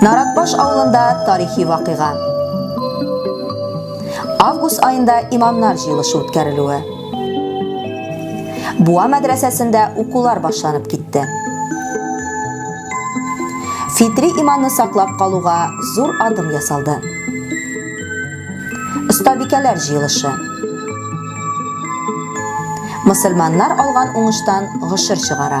Наратбаш авылында тарихи вакыйга. Август аенда имамнар җыелышы үткәрелүе. Буа мәдрәсәсендә укулар башланып китте. Фитри иманны саклап калуга зур адым ясалды. Остабикәләр җыелышы. Мөселманнар алган уңыштан гошер чыгара.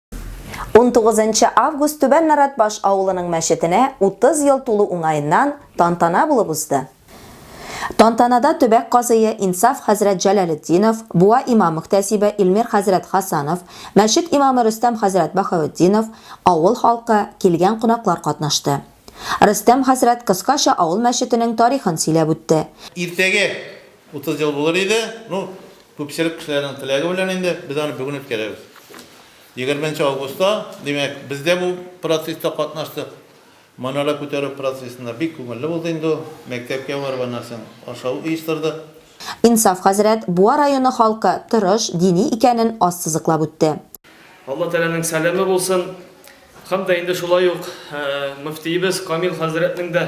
19 нчы август Түбән Наратбаш авылының мәчетенә 30 ел тулу уңаеннан тантана булып узды. Тантанада төбәк казые Инсаф хәзрәт Җәләлетдинов, буа имам-мөхтәсибе Илмир хәзрәт Хасанов, мәчет имамы Рөстәм хәзрәт Баһаветдинов, авыл халкы, килгән кунаклар катнашты. Рөстәм хәзрәт кыскача авыл мәчетенең тарихын сөйләп үтте. Иртәгә Утыз ел булыр иде, ну, күпчелек кешеләрнең теләге белән инде, без аны бүген үткәрәбез. Егерме нче августта, димәк, без дә бу процесста катнаштык. Манара күтәрү процессында бик күңелле булды инде ул. Мәктәпкә барып, аннан соң ашау оештырдык. Инсаф хәзрәт Буа районы халкы тырыш, дини икәнен ассызыклап үтте. Алла Тәгаләнең сәламе булсын. Һәм дә инде шулай ук мөфтиебез Камил хәзрәтнең дә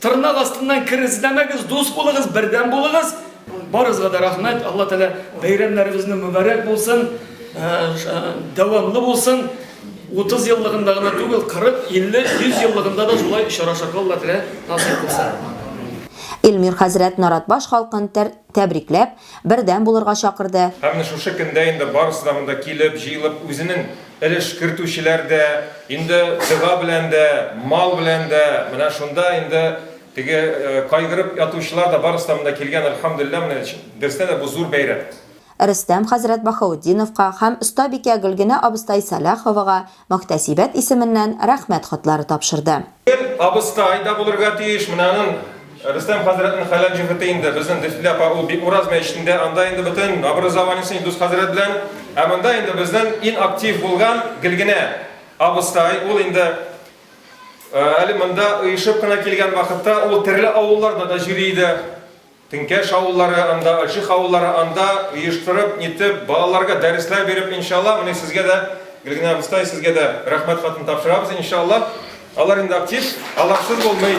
Тырнак астыннан кер эзләмәгез, дус булыгыз, бердәм булыгыз. Барыгызга да рәхмәт. Алла Тәгалә бәйрәмнәрегезне мөбарәк булсын, дәвамлы булсын. 30 еллыгында гына түгел, 40, 50, 100 еллыгында да шулай очрашырга Алла Тәгалә насыйп булса. Илмир хәзрәт Наратбаш халкын тәр Тәбрикләп, бердәм булырга чакырды. Ә менә шушы көндә инде барысы да монда килеп, җыелып, үзенең өлеш кертүчеләр дә, инде дога белән дә, мал белән дә, менә шунда инде теге кайгырып ятучылар да барысы да монда килгән, әлхәмдүлилләһ, менә берсенә дә бу зур бәйрәм. Рөстәм хәзрәт Баһаутдиновка һәм остабикә Гөлгенә абыстай Сәлаховага Мөхтәсибәт исеменнән рәхмәт хатлары тапшырды. Бер абыскай да булырга тиеш, менә аның, Рөстәм хәзрәтнең хәләл җефете инде, безнең Дефтли апа ул бит Ураз мәчетендә, анда инде бөтен образованиесе Илдус хәзрәт белән, ә монда инде безнең ин актив булган гел генә абыскай, ул инде әле монда оешып кына килгән вакытта ул терле авылларда да җөри иде. Теңкәш авыллары анда, Ачык авыллары анда оештырып, нитеп, балаларга дәресләр биреп, иншалла, менә сезгә дә, Гөлгенә абыстай, сезгә дә рәхмәт хатын тапшырабыз, иншалла. Алар инде актив, аларсыз булмый.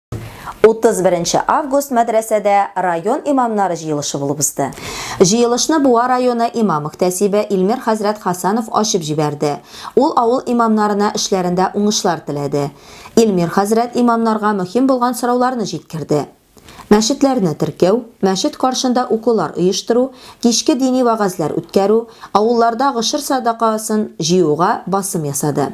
31 август мәдрәсәдә район имамнары җыелышы булып узды. Җыелышны Буа районы имам мөхтәсибе Илмир хәзрәт Хасанов ачып җибәрде. Ул авыл имамнарына эшләрендә уңышлар теләде. Илмир хәзрәт имамнарга мөһим булган сорауларны җиткерде. Мәчетләрне теркәү, мәчет каршында укулар оештыру, кичке дини вәгазьләр үткәрү, авылларда гошер садакасын җыюга басым ясады.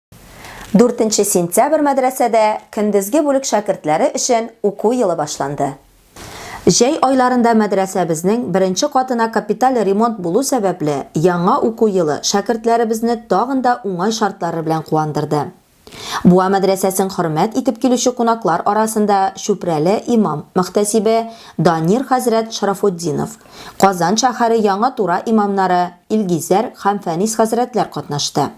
Дүртенче сентябрь мәдрәсәдә көндезге бүлек шәкертләре өчен уку елы башланды. Җәй айларында мәдрәсәбезнең беренче катына капиталь ремонт булу сәбәпле, яңа уку елы шәкертләребезне тагын да уңай шартлары белән куандырды. Буа мәдрәсәсен хөрмәт итеп килүче кунаклар арасында Чүпрәле имам-мөхтәсибе Данир хәзрәт Шарафутдинов, Казан шәһәре Яңа Тура имамнары Илгизәр һәм Фәнис хәзрәтләр катнашты.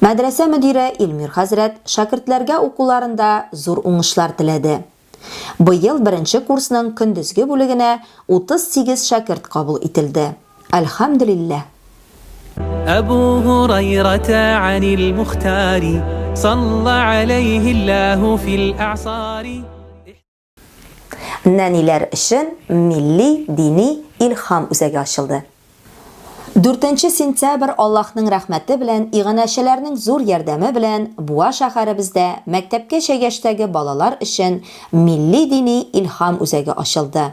Мәдрәсә мөдире Илмир хәзрәт шәкертләргә укуларында зур уңышлар теләде. Быел беренче курсның көндезге бүлегенә 38 шәкерт кабул ителде. Әлхәмдүлилләһ! Әбу Һурайрата Әнил Мухтари салла галәйһи Ллаһу фил әгъсари. Нәниләр өчен милли дини илһам үзәге ачылды. 4 сентябрь Аллаһның рәхмәте белән, иганәчеләрнең зур ярдәме белән Буа шәһәребездә мәктәпкәчә яшьтәге балалар өчен милли дини илһам үзәге ачылды.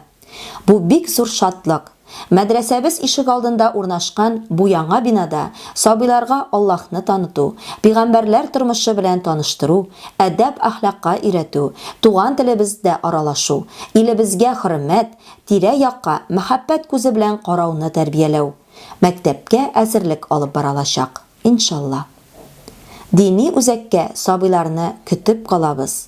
Бу бик зур шатлык. Мәдрәсәбез ишегалдында урнашкан бу яңа бинада сабыйларга Аллаһны таныту, пигамбәрләр тормышы белән таныштыру, әдәп-әхлакка өйрәтү, туган телебездә аралашу, илебезгә хөрмәт, тирә-якка мәхәббәт күзе белән карауны тәрбияләү, мәктәпкә әзерлек алып баралачак, иншалла. Дини үзәккә сабыйларны көтеп калабыз.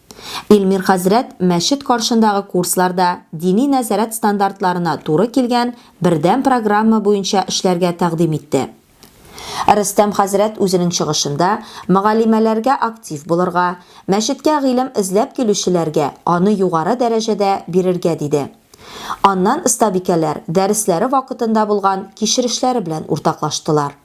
Илмир хәзрәт мәчет каршындагы курсларда дини нәзарәт стандартларына туры килгән бердәм программа буенча эшләргә тәкъдим итте. Рөстәм хәзрәт үзенең чыгышында мөгаллимәләргә актив булырга, мәчеткә гыйлем эзләп килүчеләргә аны югары дәрәҗәдә бирергә диде. Аннан остабикәләр дәресләре вакытында булган кичерешләре белән уртаклаштылар.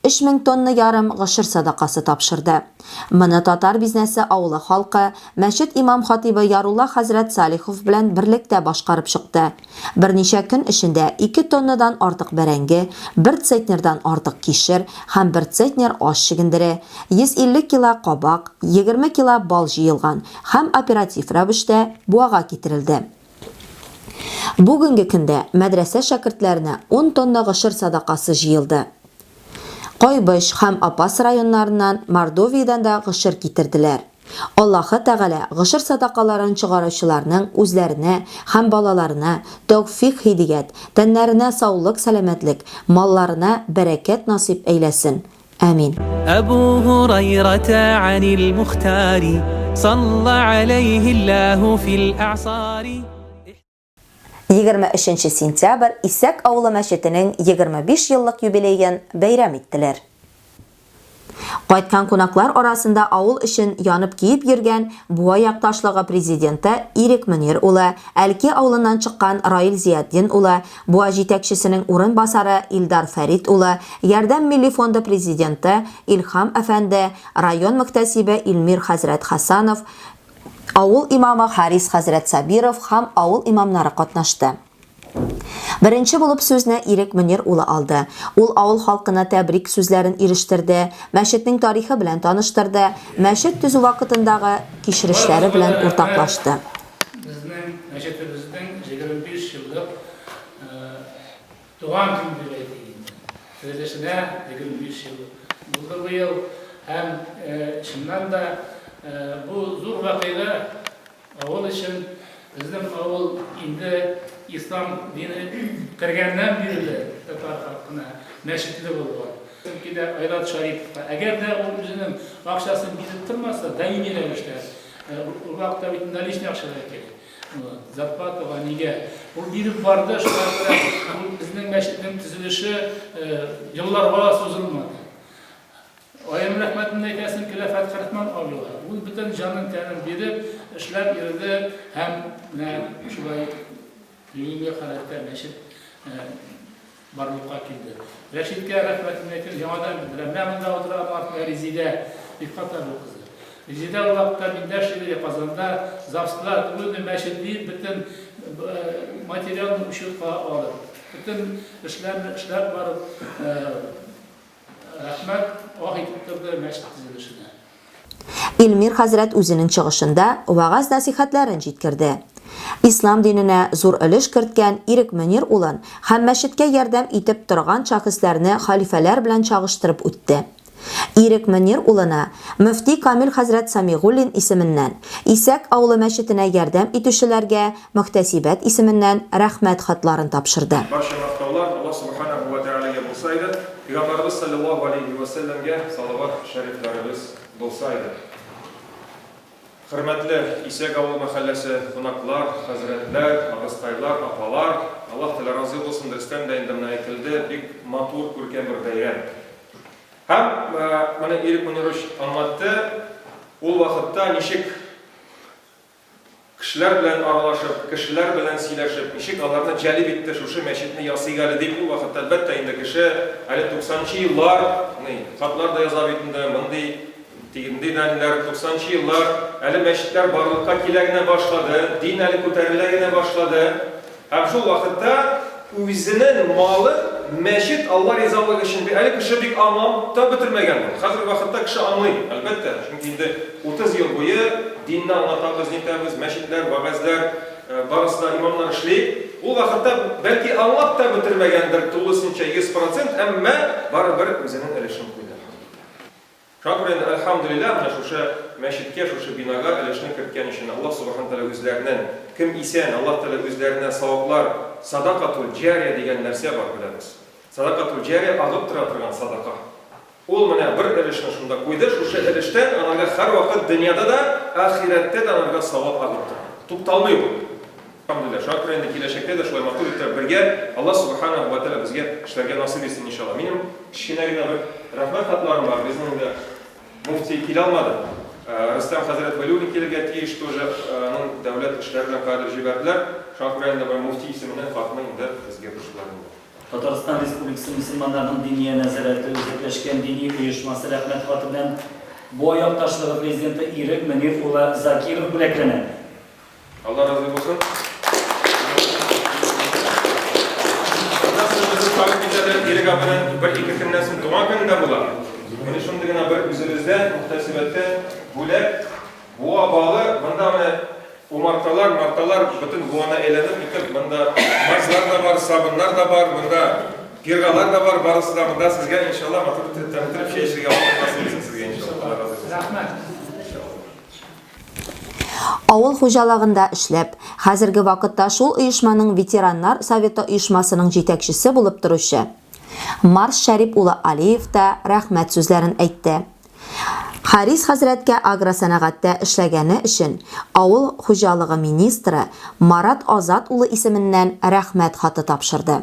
Өч мең тонна ярым гошер садакасы тапшырды. Моны Татар Бизнесы авылы халкы, мәчет имам-хатыйбы Ярулла хәзрәт Салихов белән берлектә башкарып чыкты. Берничә көн эчендә ике тоннадан артык бәрәңге, бер цетнердан артык кишер һәм бер цетнер ач чөгендере, 150 кило кабак, егерме кило бал җыелган һәм оператив рәвештә Буага китерелде. Бүгенге көндә мәдрәсә шәкертләренә ун тонна гошер садакасы җыелды. Кайбыч һәм Апас районнарыннан, Мордовиядән дә гошер китерделәр. Аллаһы Тәгалә гошер садакаларын чыгараучыларның үзләренә һәм балаларына тәүфыйк-һидият, тәннәренә саулык-сәламәтлек, малларына бәрәкәт насыйп әйләсен! Амин. Әбу Хурайрата анил Мухтари, салла алейхи Аллаху фил а'сари. 23 сентябрь Исәк авылы мәчетенең 25 еллык юбилеен бәйрәм иттеләр. Кайткан кунаклар арасында авыл өчен янып киеп йөргән Буа якташлыгы президенты Ирек Мөнир улы, Әлки авылыннан чыккан Раил Зиятдин улы, Буа җитәкчесенең урынбасары Илдар Фәрит улы, Ярдәм милли фонды президенты Илһам әфәнде, район мөхтәсибе Илмир хәзрәт Хәсанов, авыл имамы Харис хәзрәт Сабиров һәм авыл имамнары катнашты. Беренче булып сүзне Ирек Мөнир улы алды. Ул авыл халкына тәбрик сүзләрен ирештерде, мәчетнең тарихы белән таныштырды, мәчет төзү вакытындагы кичерешләре белән уртаклашты. Безнең мәчетебезнең 25 еллык туган көн дип әйтик инде. Төзелешенә 25 ел булды быел. Һәм, чыннан да, бу зур вакыйга авыл өчен. Безнең авыл инде ислам дине кергәннән бирле татар халкына мәчетле булган. Чөнки дә Айрат Шарипов та, әгәр дә ул үзенең акчасын биреп тормаса, даими рәвештә, Ул вакытта бит наличный акча да кирәк. Зарплатага нигә? Ул биреп барды, шулай күрә. Ул безнең мәчетнең төзелеше елларга сузылмады. Аем рәхмәтен әйтәсен Киләфәт Хәрәхман абыйга. Ул бөтен җанын тәнен биреп, эшләп йөрде һәм менә шулай бүгенге халәттә мәчет Барлыкка килде. Рәшидкә рәхмәтемне әйтеп, яңадан белдерәм. Менә монда утыра партия Резидә Рифкатова кызы. Резидә ул вакытта миндә шигъри Казанда ЗАГСта түгелме мәчет диеп бөтен материалны учетка алып, бөтен эшләрне эшләп барып, Рәхмәт, ах итеп торды мәчет төзелешенә. Илмир хәзрәт үзенең чыгышында вәгазь-нәсыйхәтләрен җиткерде. Ислам диненә зур өлеш керткән Ирек Мөнир улын һәм мәчеткә ярдәм итеп торган шәхесләрне хәлифәләр белән чагыштырып үтте. Ирек Мөнир улына мөфти Камил хәзрәт Сәмигуллин исеменнән, Исәк авылы мәчетенә ярдәм итүчеләргә Мөхтәсибәт исеменнән Рәхмәт хатларын тапшырды. Барча мактаулар Аллаһ Субханаһу ва Тәгаләгә булса иде, Пәйгамбәребез салләллаһу галәйһи ва сәлләмгә салават шәрифләребез булса иде. Хөрмәтле Исәк авыл мәхәлләсе кунаклар, хәзрәтләр, абыстайлар, апалар! Аллаһ Тәгалә разый булсын, дөрестән дә инде менә әйтелде, бик матур, күркәм бер бәйрәм. Һәм менә Ирек Мөнирович аңлатты, ул вакытта ничек Кешеләр белән аралашып, кешеләр белән сөйләшеп, ничек аларны җәлеп итте, шушы мәчетне ясыйк әле дип, ул вакытта, әлбәттә, инде кеше әле туксанынчы еллар, ни, хатлар да яза бит инде, мондый, тиндый даниләр, туксанынчы еллар, әле мәчетләр барлыкка килә генә башлады, дин әле күтәрелә генә башлады. Һәм шул вакытта үзенен малын мәчет Алла ризалыгы өчен бир. Әле кеше бик аңлап та бетермәгән моны. Хәзерге вакытта кеше аңлый, әлбәттә, чөнки инде 30 ел буе динне аңлатабыз, нитәбез, мәчетләр, вәгазьләр, барысы да имамнар эшли. Ул вакытта бәлки аңлап та бетермәгәндер тулысынча 100 процент, әмма барыбер үзенен өлешен куйды. Шакир инде Әлхәмдүлилләһ менә шушы мәчеткә, шушы бинага өлешне керткән өчен Аллаһ Субахана Тәгалә үзләренен, кем исән, Аллаһ Тәгалә үзләренә саваплар, садакатул җария дигән нәрсә бар, беләбез. Садакатул җария, агып тора торган садака. Ул менә бер өлешне шунда куйды, шушы өлештән анарга һәрвакыт дөньяда да, ахирәттә дә анарга савап агып тора. Тукталмый ул. Әлхәмдүлилләһ, шуңа күрә инде киләчәктә дә шулай матур иттереп бергә, Аллаһ Субханаһу вә тәгалә безгә эшләргә насыйп итсен, иншаллаһ. Минем кечкенә генә бер рәхмәт хатларым бар, безнең инде мөфти килә алмады, Рөстәм хәзрәт Вәлиуллин килергә тиеш тоже, аның дәүләт эшләре белән кадер җибәрделәр, шуңа күрә инде бер мөфти исеменнән хатны инде безгә борчтылар инде. Татарстан Республикасы мөселманнарның Диния нәзарәте үзәкләшкән дини оешмасы рәхмәт хаты белән Буа якташлыгы президенты Ирек Мөнир улы Закиров бүләкләнә. Алла разый булсын. Аннан соң безнең халык кичәдә Ирек абының бер-ике көннән соң туган көне дә була. Менә шундый гына бер үзебездә мөхтәсибәттә бүләк буа балы, монда менә умарталар, марталар бөтен буана әйләнеп китеп, монда мазлар да бар, сабыннар да бар, монда пиргалар да бар, барысы да монда сезгә иншалла матур итеп тәмләп чәй эчәргә буласыз сезгә иншалла. Рәхмәт. Авыл хуҗалыгында эшләп, хәзерге вакытта шул оешманың ветераннар советы оешмасының җитәкчесе булып торучы Марс Шәрип улы Алиев та рәхмәт сүзләрен әйтте. Харис хәзрәткә агросәнәгатьтә эшләгәне өчен авыл хуҗалыгы министры Марат Азат улы исеменнән рәхмәт хаты тапшырды.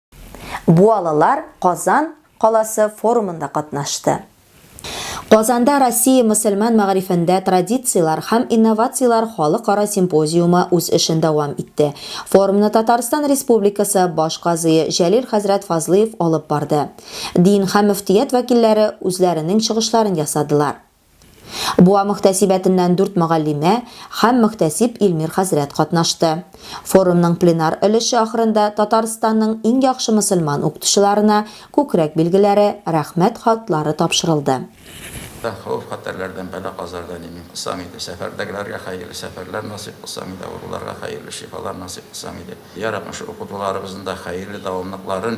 Буалылар Казан каласы форумында катнашты. Казанда Россия мөселман мәгарифендә традицияләр һәм инновацияләр халыкара симпозиумы үз эшен дәвам итте. Форумны Татарстан Республикасы баш казые Җәлил хәзрәт Фазлыев алып барды. Дин һәм мөфтият вәкилләре үзләренең чыгышларын ясадылар. Буа мөхтәсибәтеннән дүрт мөгаллимә һәм мөхтәсиб Илмир хәзрәт катнашты. Форумның пленар өлеше ахырында Татарстанның иң яхшы мөселман укытучыларына күкрәк билгеләре, Рәхмәт хатлары тапшырылды. Да, хәвеф-хәтәрләрдән, бәла-казардан имин кылсаң иде, сәфәрдәгеләргә хәерле сәфәрләр насыйп кылсаң иде, авыруларга хәерле шифалар насыйп кылсаң иде. Йә, Раббым, шул укытуларыбызның да хәерле дәвамлыкларын,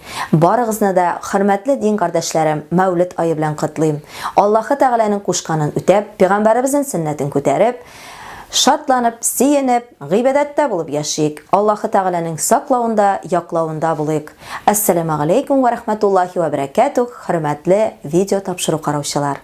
Барыгызны да, хөрмәтле дин кардәшләрем, Мәүлет ае белән котлыйм. Аллаһы Тәгаләнең кушканын үтәп, пигамбәребезнен сөннәтен күтәреп, шатланып, сөенеп, гыйбадәттә булып яшик, Аллаһы Тәгаләнең саклавында, яклавында булыйк. Әссәләмәгаләйкүм вә рәхмәтуллаһи вә бәрәкәтүһ, хөрмәтле видео тапшыру караучылар!